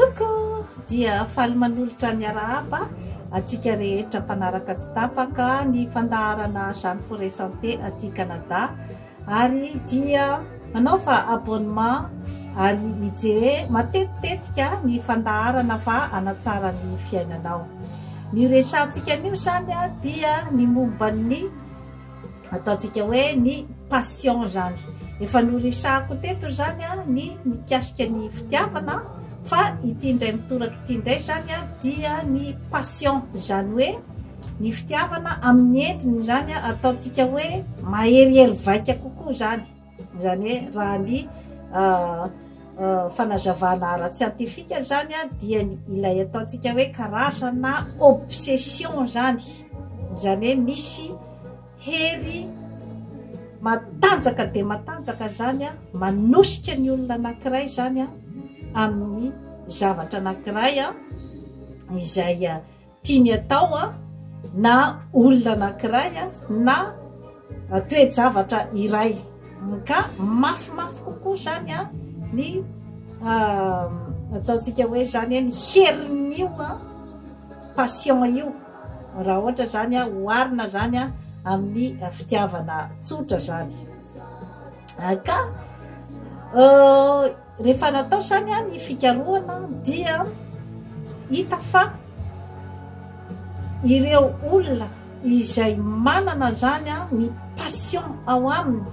Coucou! Dia faly manolotra ny arahaba antsika rehetra mpanaraka tsy tapaka ny fandaharana Jeanne Forêt Santé aty Canada ary dia manaova abonnement ary mijery matetitetika ny fandaharana fa hanatsara ny fiainanao. Ny resahantsika anio izany dia ny momba ny Ataontsika hoe ny passion zany. Efa noresahako teto izany ny mikasika ny fitiavana fa ity indray mitoraka ity indray zany dia ny passion izany hoe ny fitiavana amin'ny endriny izany ataontsika hoe maherihery vaika kokoa zany. Izany hoe raha ny fanazavana ara-tsiantifika izany dia ilay ataontsika hoe karazana obsession izany. Izany hoe misy hery matanjaka dia matanjaka izany manosika ny olona anankiray izany amin'ny zavatra anankiray izay tiany atao na olona anankiray na toe-javatra iray ka mafimafy kokoa izany ny ataontsika hoe izany ny herin'io passion io raha ohatra izany oharina izany amin'ny fitiavana tsotra izany ka Rehefa natao izany ny fikarohana dia hita fa ireo olona izay manana izany ny passion ao aminy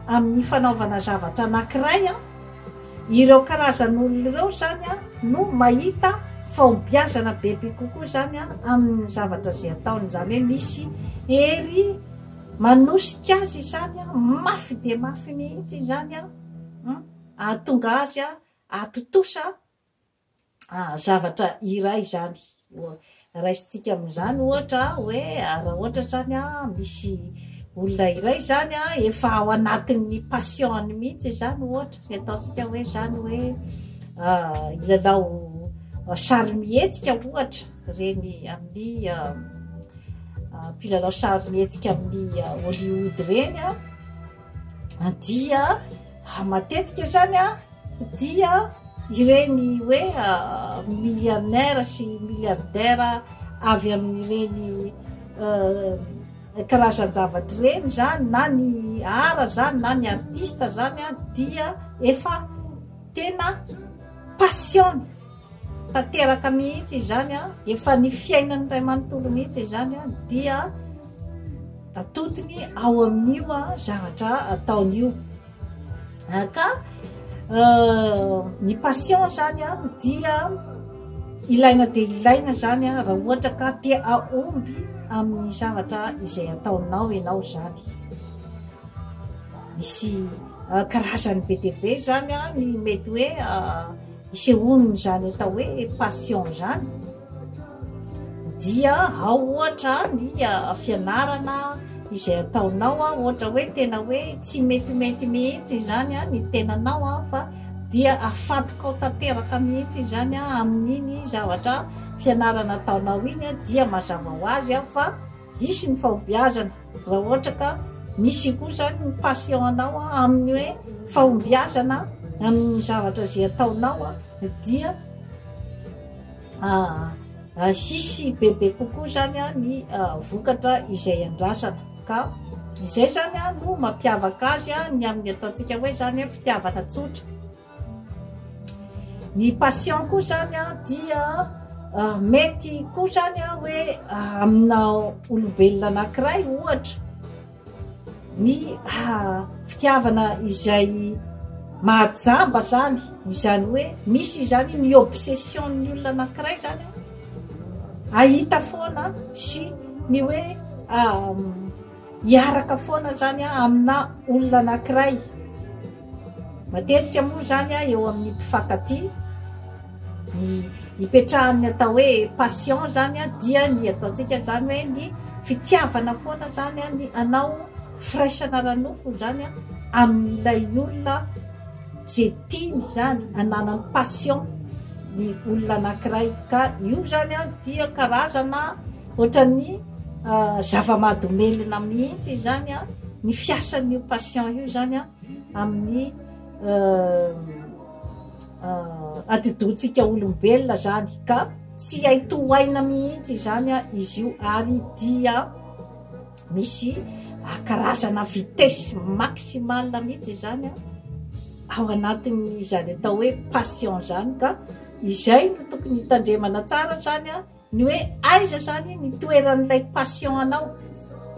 amin'ny fanaovana zavatra anankiray, ireo karazan'olona ireo izany no mahita fahombiazana bebe kokoa izany amin'ny zavatra izay ataony. Izany hoe misy hery manosika azy izany mafy dia mafy mihitsy izany. Hahatonga azy hahatontosa zavatra iray izany. Raisintsika amin'izany ohatra hoe raha ohatra izany misy olona iray izany efa ao anatin'ny passion-ny mihitsy izany ohatra, ny ataontsika hoe izany hoe hilalao sarimihetsika ohatra, ireny amin'ny mpilalao sarimihetsika amin'ny Hollywood ireny. dia matetika zany a dia ireny hoe milliarnaire sy milliardaire avy amin'ireny karazan-javatra ireny zany na ny art zany na ny artiste zany dia efa tena passion-ny tanteraka mihitsy izany a dia efa ny fiainan'ny ray manontolo mihitsy izany a dia atotiny ao amin'io a zavatra ataony io ka ny passion zany a dia ilaina dia ilaina zany a raha ohatra ka te aomby amin'ny zavatra izay ataonao ianao zany misy karazany be dia be zany a ny mety hoe Isehoan' izany atao hoe passion izany dia ao ohatra ny fianarana izay ataonao ohatra hoe tena hoe tsy metimety mihitsy izany ny tenanao fa dia afadikao tanteraka mihitsy izany amin' iny zavatra fianarana ataonao iny dia mazava ho azy fa hisy ny fahombiazana. Raha ohatra ka misy koa izany ny passion-nao amin'ny hoe fahombiazana amin'ny zavatra izay ataonao dia hisy bebe kokoa izany ny vokatra izay andrasana ka izay izany no mampiavaka azy ny amin'ny ataontsika hoe izany fitiavana tsotra. Ny patient koa zany an dia mety koa zany an hoe amina olombelona anankiray ohatra ny fitiavana izay mahajamba zany izany hoe misy izany ny obsession ny olona anankiray zany an hahita foana sy ny hoe hiaraka foana zany amina olona anankiray matetika moa zany a eo amin'ny mpifankatia ny ipetrahan'ny atao hoe passion zany a dia ny ataontsika zany hoe ny fitiavana foana zany a ny anao firaisana ara-nofo zany a amin'ilay olona ze tiany zany ananany passion ny olona anankiray ka io zany a dia karazana Ohatran'ny zava-mahadomelina mihitsy izany ny fiasan'io patient io izany amin'ny atidohantsika olombelona izany ka tsy hay tohaina mihitsy izany izy io ary dia misy karazana vitesse maximale mihitsy izany ao anatin'izany atao hoe patient izany ka izay no tokony hitandremana tsara izany. Ny hoe aiza izany ny toeran'ilay passion anao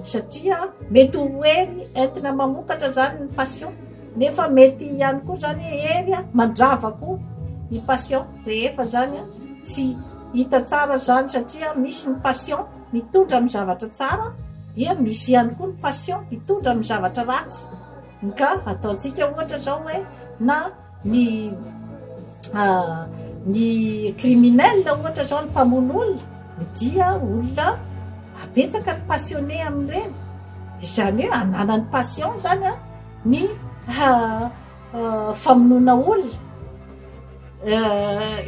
satria mety ho hery entina mamokatra izany ny passion nefa mety ihany koa izany hoe hery mandrava koa ny passion rehefa izany tsy hita tsara izany satria misy ny passion mitondra amin'ny zavatra tsara dia misy ihany koa ny passion mitondra amin'ny zavatra ratsy ka ataontsika ohatra izao hoe na ny ny criminel ohatra zao ny mpamono olona dia olona betsaka ny passionne amin'ireny izany hoe ananany passion zany an ny famonoana olona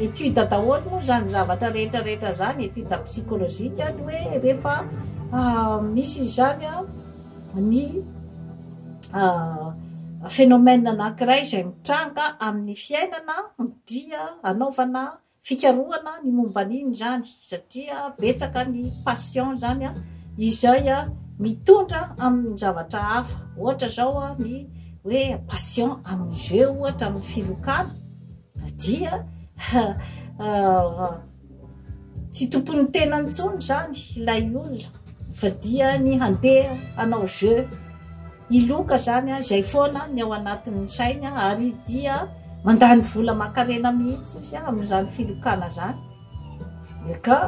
étude daholo moa zany zavatra rehetra rehetra zany étude psychologique ny hoe rehefa misy izany an ny phénomène anankiray izay mitranga amin'ny fiainana dia anaovana fikarohana ny momba an'iny izany satria betsaka ny patient izany izay mitondra amin'ny zavatra hafa ohatra izao ny hoe patient amin'ny jeux ohatra amin'ny filokana dia Tsy tompon'ny tenany intsony izany ilay olona fa dia ny handeha hanao jeu, hiloka izany an, izay foana ny ao anatin'ny sainy ary dia mandany vola aman-karena mihitsy izy amin'izany filokana izany ka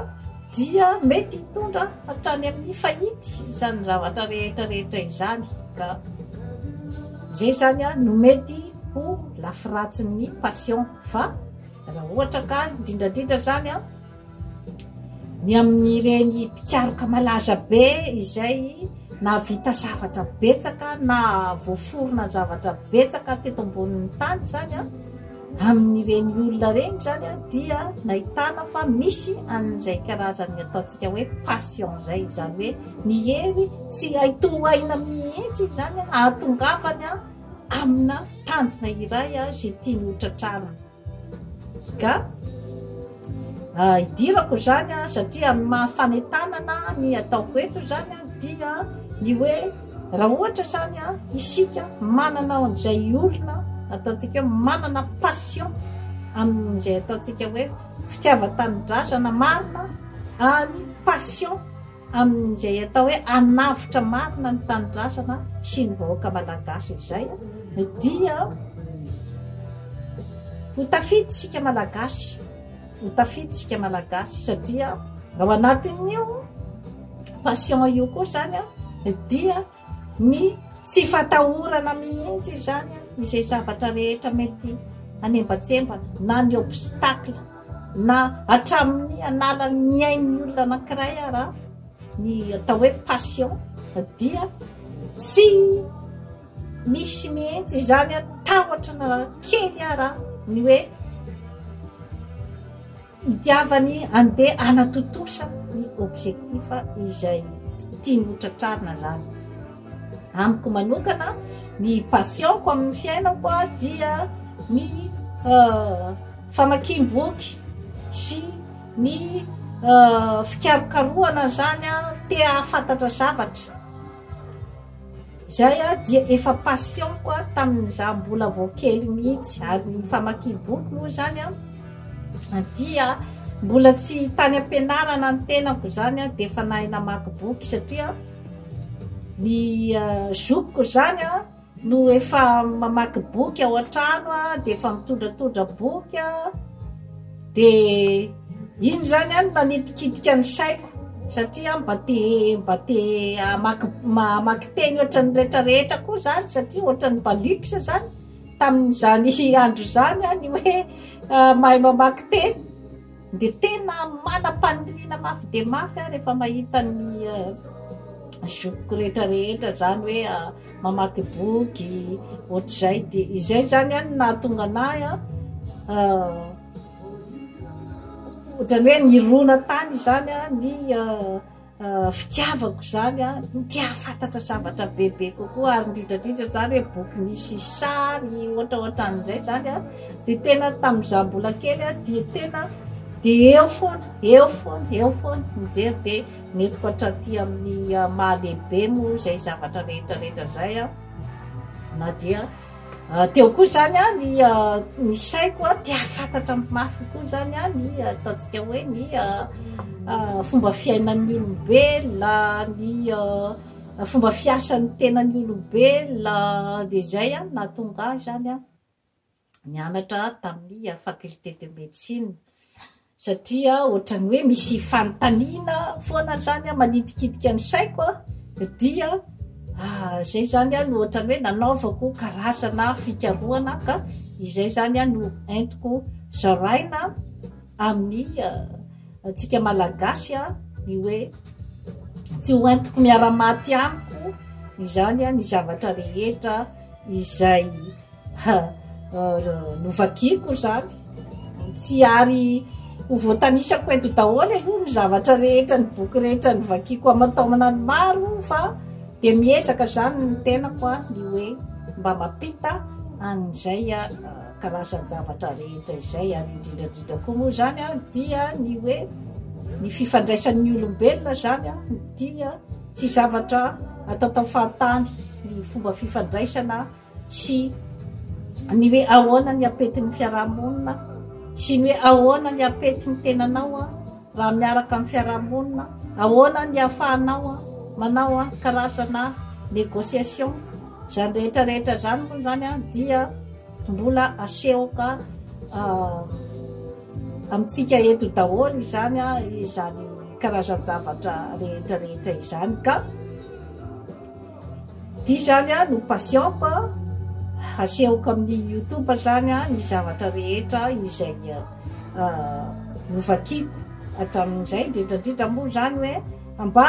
dia mety hitondra hatrany amin'ny fahity izany zavatra rehetra rehetra izany ka izay izany an no mety ho lafy ratsin'ny passion fa Raha ohatra ka indrindra indrindra izany an, ny amin'ireny mpikaroka malaza be izay nahavita zavatra betsaka na voaforona zavatra betsaka teto ambonin'ny tany izany an, amin'ireny olona ireny izany an, dia nahitana fa misy an'izay karazan'ny ataontsika hoe passion izay, izany hoe ny hery tsy hay tohaina mihitsy izany an, hahatongavany an, amina tanjona iray izay tiany ho tratrarina. Ka idirako izany satria amin'ny maha fanentanana ny ataoko eto izany dia ny hoe raha ohatra izany isika manana an'izay olona ataontsika hoe manana passion amin'izay ataontsika hoe fitiavan-tanindrazana marina ary passion amin'izay atao hoe hanavotra marina ny tanindrazana sy ny vahoaka malagasy izay dia ho tafita isika malagasy ho tafita isika malagasy satria ao anatin'io passion io koa izany dia ny tsy fatahorana mihitsy izany izay zavatra rehetra mety anembatsembana na ny obstacle na hatramin'ny anala ny ain'ny olona anankiray ara ny atao hoe passion dia tsy misy mihitsy izany a tahotra na kely ara ny hoe Itiavany andeha hanatontosa ny objectif izay tiany ho tratrarina zany. Amiko manokana ny passion-ko amin'ny fiainako dia ny famakiam-boky sy ny fikarokarohana zany te hahafantatra zavatra. Izay aho dia efa passion ko aho tamin'ny izaho mbola vao kely mihitsy ary ny famakiam-boky moa izany aho dia mbola tsy tany am-pianarana ny tenako izany aho dia efa nahay namaky boky satria ny eh, zokiko izany aho no efa mamaky boky ao an-trano aho dia efa mitondratondra boky aho Dia iny izany an manitikitika ny saiko satria an mba te mba te hamaky hamaky teny ohatran'ny rehetra rehetra koa izany satria ohatran'ny mba luxe izany tamin'izany andro izany an ny hoe mahay mamaky teny dia tena manam-paniriana mafy dia mafy aho rehefa mahita ny zokiko rehetra rehetra izany hoe mamaky boky ohatr'izay dia izay zany an no nahatonga anahy an ohatrany hoe nirona tany izany an ny fitiavako izany an ny te hahafantatra zavatra bebe kokoa ary indrindra indrindra izany hoe boky misy sary ohatra ohatran'izay izany an dia tena tamin'izaho mbola kely an dia tena dia eo foana eo foana eo foana mijery dia Nentiko hatraty amin'ny maha lehibe moa izay zavatra rehetra rehetra izay aho, na dia teo koa izany ny ny saiko te hahafantatra mafy kokoa izany ny ataontsika hoe ny fomba fiainan'ny olombelona, ny fomba fiasan'ny tenan'ny olombelona, dia izay no nahatonga ahy izany an. nianatra tamin'ny faculté de médecine satria ohatran'ny hoe misy fanontaniana foana zany a manitikitika ny saiko a dia ah, zay zany a no ohatran'ny hoe nanaovako karazana fikarohana ka izay zany a no entiko zaraina amin'ny ah, antsika malagasy a ny hoe tsy ho entiko miara-maty amiko izany a ny zavatra rehetra izay Ha! Novakiako izany. Tsy ary ho voatanisako eto daholo aloha ny zavatra rehetra, ny boky rehetra novakiako aman-taonany maro fa dia miezaka izany ny tenako ny hoe mba mampita an'izay karazan-javatra rehetra izay ary indrindra indrindra koa moa izany dia ny hoe ny fifandraisan'ny olombelona izany dia tsy zavatra atatao fahatany ny fomba fifandraisana sy ny hoe ahoana ny ampetin'ny fiarahamonina sy ny hoe ahoana ny ampetin'ny tenanao a raha miaraka amin'ny fiarahamonina ahoana ny hafahanao a manao a karazana négociation izany rehetra rehetra izany moa izany a dia mbola asehoka amintsika eto daholo izany a izany karazan-javatra rehetra rehetra izany ka Ity zany a no patiente a, hasehoko amin'ny youtube zany a ny zavatra rehetra izay novakiko hatramin'izay, indrindra indrindra moa zany hoe mba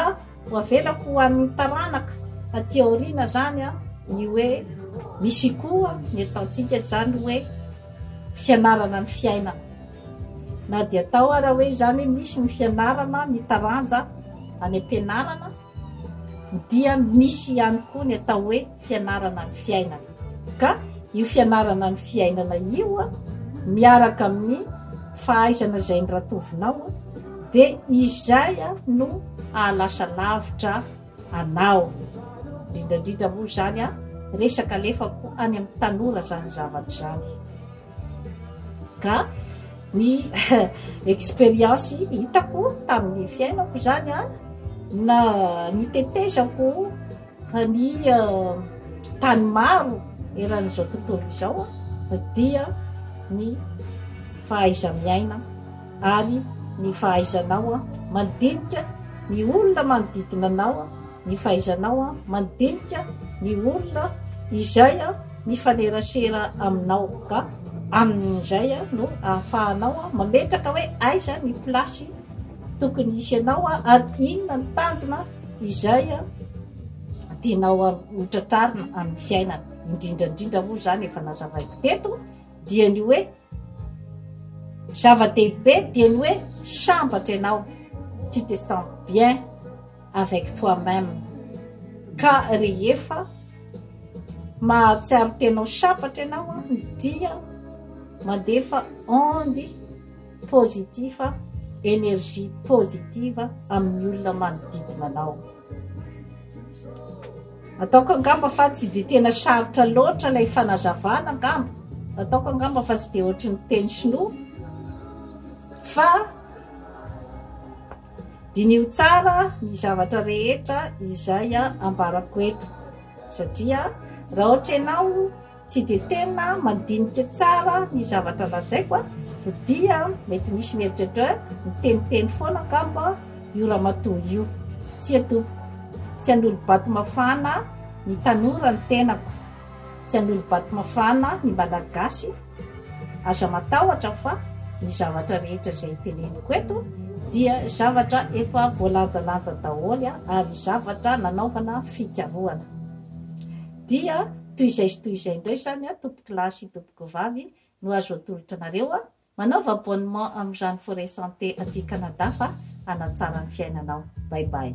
ho avelako ho an'ny taranaka aty aoriana zany a ny hoe misy koa ny ataontsika zany hoe fianarana ny fiainana, na dia atao ara hoe zany misy ny fianarana ny taranja any am-pianarana. dia misy ihany koa ny atao hoe fianarana ny fiainana ka io fianarana ny fiainana io a miaraka amin'ny fahaizana izay ny ratovinao a dia izay a no hahalasa lavitra anao indrindraindrindra moa izany a resaka alefako any amin'ny tanora izany zavatra izany Ka ny expérience hitako tamin'ny fiainako izany an, na ny tetezako fa ny tany maro eran'izao tontolo izao an, dia ny fahaiza-miaina ary ny fahaizanao mandinika ny olona manodidina anao. ny fahaizanao mandinika ny olona izay mifanerasera aminao ka amin'izay no ahafahanao mametraka hoe aiza ny place tokony hisy anao ary inona ny tanjona izay tianao hotratrarina amin'ny fiainana indrindra indrindra moa izany efa nazavaiko teto dia ny hoe zava-dehibe dia ny hoe sambatra ianao tu te sens bien avec toi meme ka rehefa mahatsiaro tena ho sabatra ianao dia mandefa onde positif energie positive amin'ny olona manodidina anao ataoko angamba fa tsy dia tena sarotra loatra ilay fanazavana angamba ataoko angamba fa tsy dia ohatry ny teny sinoa fa Diniho tsara ny zavatra rehetra izay ambarako eto, satria raha ohatra ianao tsy dia tena mandinika tsara ny zavatra lazaiko dia mety misy mieritreritra hoe miteniteny foana angamba io ramatoa io. Tsia tompoko, tsy hanolo-bato mafana ny tanora ny tenako, tsy hanolo-bato mafana ny Malagasy. Aza matahotra fa ny zavatra rehetra izay teneniko eto dia zavatra efa voalanjalanja daholo ary zavatra nanaovana fikarohana. Dia toy izay sy toy izay indray izany tompoko lahy sy tompoko vavy no azo atolotra anareo manaova abonnement amin'izany Forêt Santé aty Canada fa hanatsara ny fiainanao. Bye bye.